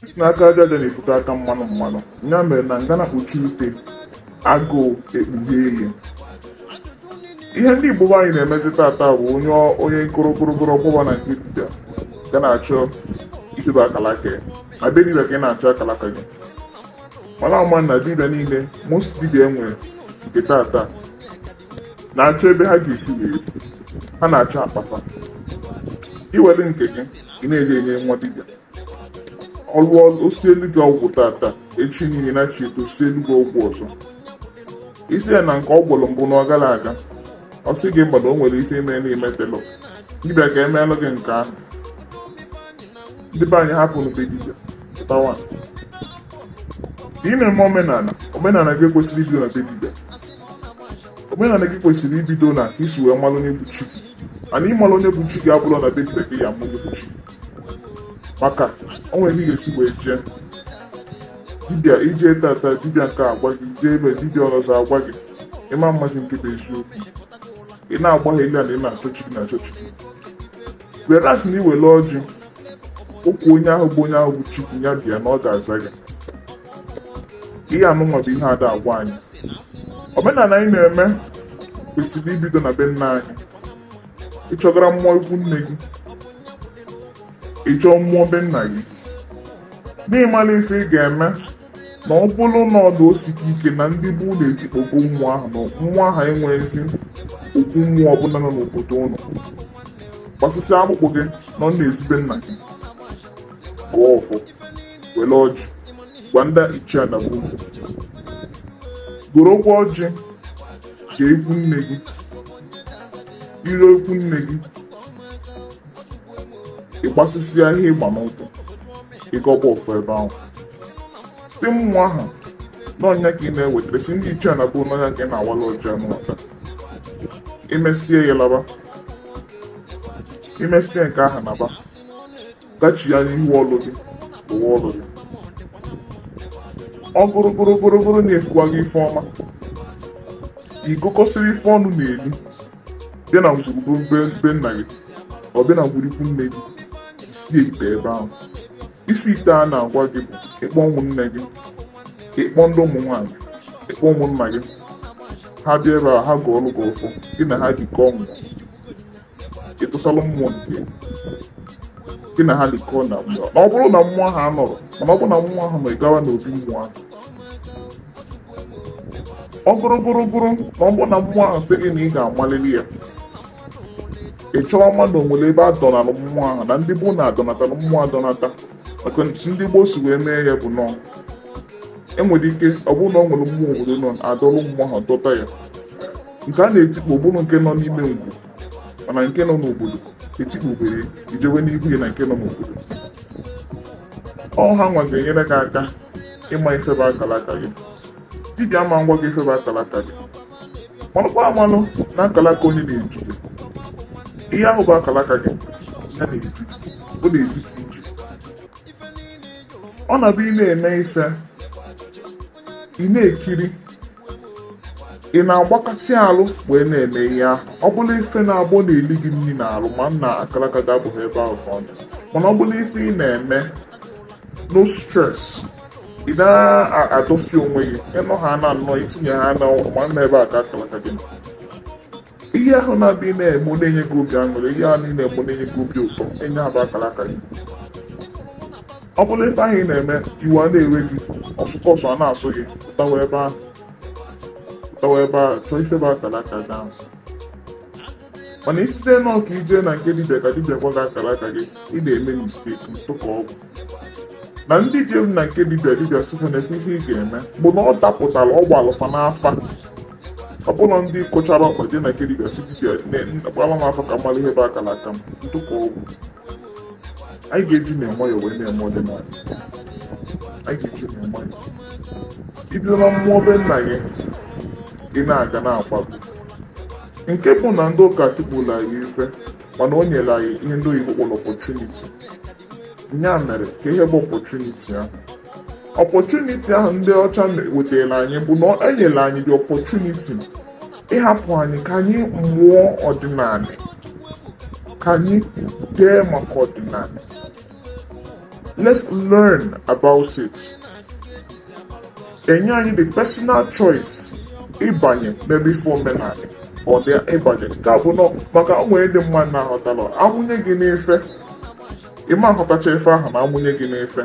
si na aka aja aja na-ebute aka mmanụ mmanụ ya mere na ngana kpuchie ute agụụ ekpughee ya ihe ndị igbo anyị na-emezi tata bụ onye onye korokoro ọ gbaba na nke dibịa ga na-achọ isiba akalaka ya na be dibịa ka ị na-achọ akalaka gị mana a ma na dibịa niile most dibịa e nwere nke tata na-achọ ebe ha ga-esi wee ha na-achọ akpa fa i were nke gị ị na-eje enye nwa dibịa ọ lụọ o sielu gị ọgwụ tata echi niile na chi eto o sielu gị ọgwụ ọzọ ị sị ya na nke ọ gwọrọ mbụ na ọ garọ aga ọ sị gị mba na o nwere isi ime na i metelọ gị bịa ka e meelụ gị nke ahụ ndị be anyị hapụnụ be dibịa pụtawa ị na-eme omenala omenala gị ekwesịrọ ibido na be dibịa omenala gị kwesịrị ibido na ka i si wee malụ onye bụ chi gị mana ịmalụ onye bụ chi gị abụrọ na be dibịa ka ị ya-ama onye bụ chi gị maka o nwere ihe ị ga-esi wee jee dibịa i jee tata dibịa nke a agwa gị i jee be dibịa ọzọ agwa gị ị ma mmazi nke bụ eziokwu ị na-agbaghalị na ị na-achọ chi gị na-achọ chi gị whereas na i were ọjị gọkuo onye ahụ bụ onye ahụ bụ chi gị ya bịa na ọ ga-aza gị ihe anụnwa bụ ihe ada agwa anyị omenala anyị na-eme kwesịrị ibido na be nna anyị ị chọgara mmụọ ikwu nne gị ị chọọ mmụọ be nna gị n'ịmala ife ị ga-eme na ọ bụrụ na ọ dụ o sika ike na ndị be ụnụ etikpọgo mmụọ ahụ na mmụọ ahụ enweghịzi okwu mmụọ ọbụla nọ n'obodo ụnụ gbasịsịa akpụkpọ gị nọọ n'ezi be nna gị gọọ ọfọ were ọjị gwa ndị ichie na gboo gorokwa ọjị gaa ikwu nne gị i ruo ikwu nne gị ị gbasịsịa ihe ị gba n'ụkwụ ị gọba ọfọ ebe ahụ sị mmụọ ahụ na ọ nya ka ị na-ewetara sị ndị ichie na gboo na ọ nya ka ị na-awala ọjị anụ maka i mesịa ya laba i mesịa nke ahụ naba gachi ya n'ihu ọlụ gị lụwa ọlụ gị ọ bụrụ bụrụ bụrụ bụrụ na efukwa gị ife ọma i gokọsịrị ife ọnụ na-eli bịa na ngwuru be nna gị ọ bịa na ngwuru ikwu nne gị i sie ite ebe ahụ isi ite a na-agwa gị bụ ị kpọọ ụmụnne gị ị kpọọ ndị ụmụ nwaanyị ị kpọọ ụmụnna gị ha bịa ebe a ha gọọlụ gị ọfọ gị na ha jikọọ ngwa ịtụsalụ mmụọ nke gị na ha likọ na mmụọ na ọ bụrụ na mmụọ ahụ anọrọ mana ọ bụrụ na mmụọ ahụ nọ gawa n'obi mmụọ ahụ ọ gụrụ gụrụ gụrụ na ọ bụrụ na mmụọ ahụ sị gị na ị ga-amalili ya ị chọọ ma na o nwere ebe a dọnalụ mmụọ ahụ na ndị gboo na-adọnatalụ mmụọ adọnata maka ndị gboo si wee mee ya bụ nọ e nwere ike ọ bụrụ na ọ nwere mmụọ obodo nọ adọlụ mmụọ ahụ dọta ya nke a na-etikpo bụrụ nke nọ n'ime ngwu mana nke nọ n'obodo etikpobere i jewe n'ihu ya na nke nọ n'obodo ọ ha nwa ga-enyere gị aka ịma ife bụ akalaka gị dibịa ama ngwa gị ife bụ akalaka gị manụkwa amanụ na akalaka onye na-edu gị ihe ahụ bụ akalaka gị ya na-edu gị ọ na-edu gị ije ọ na-abụ ị na-eme ife ị na-ekiri ị na-agbakasị alụ wee na-eme ihe ahụ ọ bụlụ ife na-abụ ọ na-eli gị nri n'alụ ma na akalaka gị abụghị ebe ahụ ka ọ dị mana ọ bụlụ ife ị na-eme no stress ị na-adọsi onwe gị ịnọ ha na anọ itinye ha na ma na ebe a ka akalaka gị ihe ahụ na-abụ ị na-eme ọ na-enye gị obi aṅụrị ihe ahụ ị na-eme ọ na-enye gị obi ụtọ nya bụ akalaka gị ọ bụrụ ife ahụ ị na-eme iwe a na-ewe gị ọsụkọ ọsọ a na-asụ gị pụtawa ebe ahụ pụtawa ebe ahụ chọọ ife bụ akalaka gị ahụ mana isite nọọ ka i je na nke dibịa ka dibịa gwa gị akalaka gị ị na-eme mistake ntụka ọgwụ na ndị jelu na nke dibịa dibịa sị ha nekwe ihe ị ga-eme bụ na ọ dapụtara ọ gbalụ fa n'afa ọ bụrụ ndị kụchara ọkpa je na nke dibịa sị dibịa gbaara m afa ka m malụ ihe bụ akalaka m ntụka ọgwụ anyị ga-eji na nwayọọ wee na-eme ọdịnala anyị ga-eji na nwayọọ i bido na mmụọ be nna gị ị na-aga na-akwago nke bụ na ndị ụka tikpola anyị ife mana o nyere anyị ihe ndị oyibo kpọrọ opportunity ya mere ka ihe bụ opportunity ahụ opportunity ahụ ndị ọcha wetara anyị bụ na e nyere anyị the opportunity ịhapụ anyị ka anyị mụọ ọdịnala ka anyị dee maka ọdịnala let's learn about it e nye anyị the personal choice ịbanye n'ebe ife omenala ọ dị ịbanye nke a bụ nọ maka o nwere ndị mmadụ na-aghọtara a mụnye gị n'ife ịma aghọtacha ife ahụ ma amụnye gị n'ife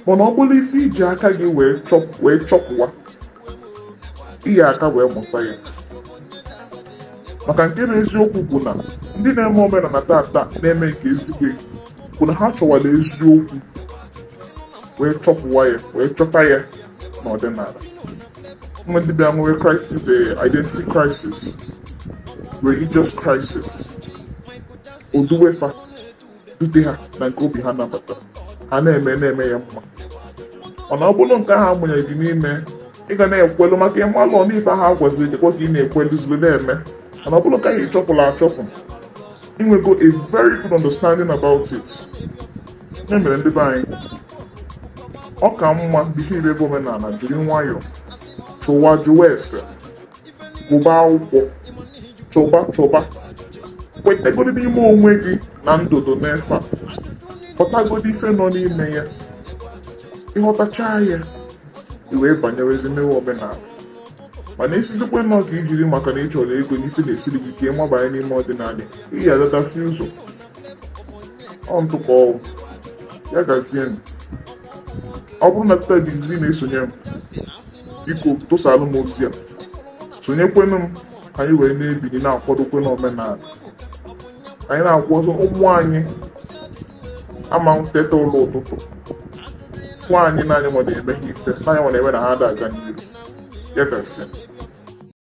mana ọ bụrụ ife iji aka gị wee chọpụwa iji aka wee mụta ya maka nke na eziokwu bụ na ndị na-eme omenala tata na-eme nke ezigbo bụ na ha chọwara eziokwu wee chọpụwa ya wee chọta ya n'ọdịnala nwa ndị bịa nwere crisis eh, identity crisis religious crisis o duwe fa dute ha na nke obi ha nabata ha na-eme na-eme ya mma mana ọ bụrụ nke ahụ amụnye gị n'ime ị ga na-ekwelu maka ịmalụ n'ife ha gwaziri gị ka ị na-ekwelu zuru na-eme mana ọ bụrụ nke ahụ ịchọpụrụ achọpụ inwego a very good understanding about it ya mere ndị be anyị ọ ka mma before i mebe omenala jiri nwayọọ chọwa jụwa ese gụba akwụkwọ chọba chọba kwetagoro n'ime onwe gị na ndụ dị n'ife a ghọtagoro ife nọ n'ime ya ịghọtacha ya i wee banyewezi mewe omenala mana asịzikwana ka ijiri maka na ị chọrọ ego n'ife na-esiri gị ike mabanye n'ime ọdịnala ị ga-adọtafi ụzọ ọ ntụ ka ọwụ ya gazie ma ọ bụrụ na kịta bụ izizi na-esonye m biko tụsalụ m ozi a sonyekwenụ m ka anyị wee na-ebili na-akwụdokwa n'omenala anyị na-akwụ ọzọ ụmụ anyị ama eteta ụla ụtụtụ fụ anyị na anyị nwere eme ha ife na anyị nwere eme na ha ada aga n'iru ya gazie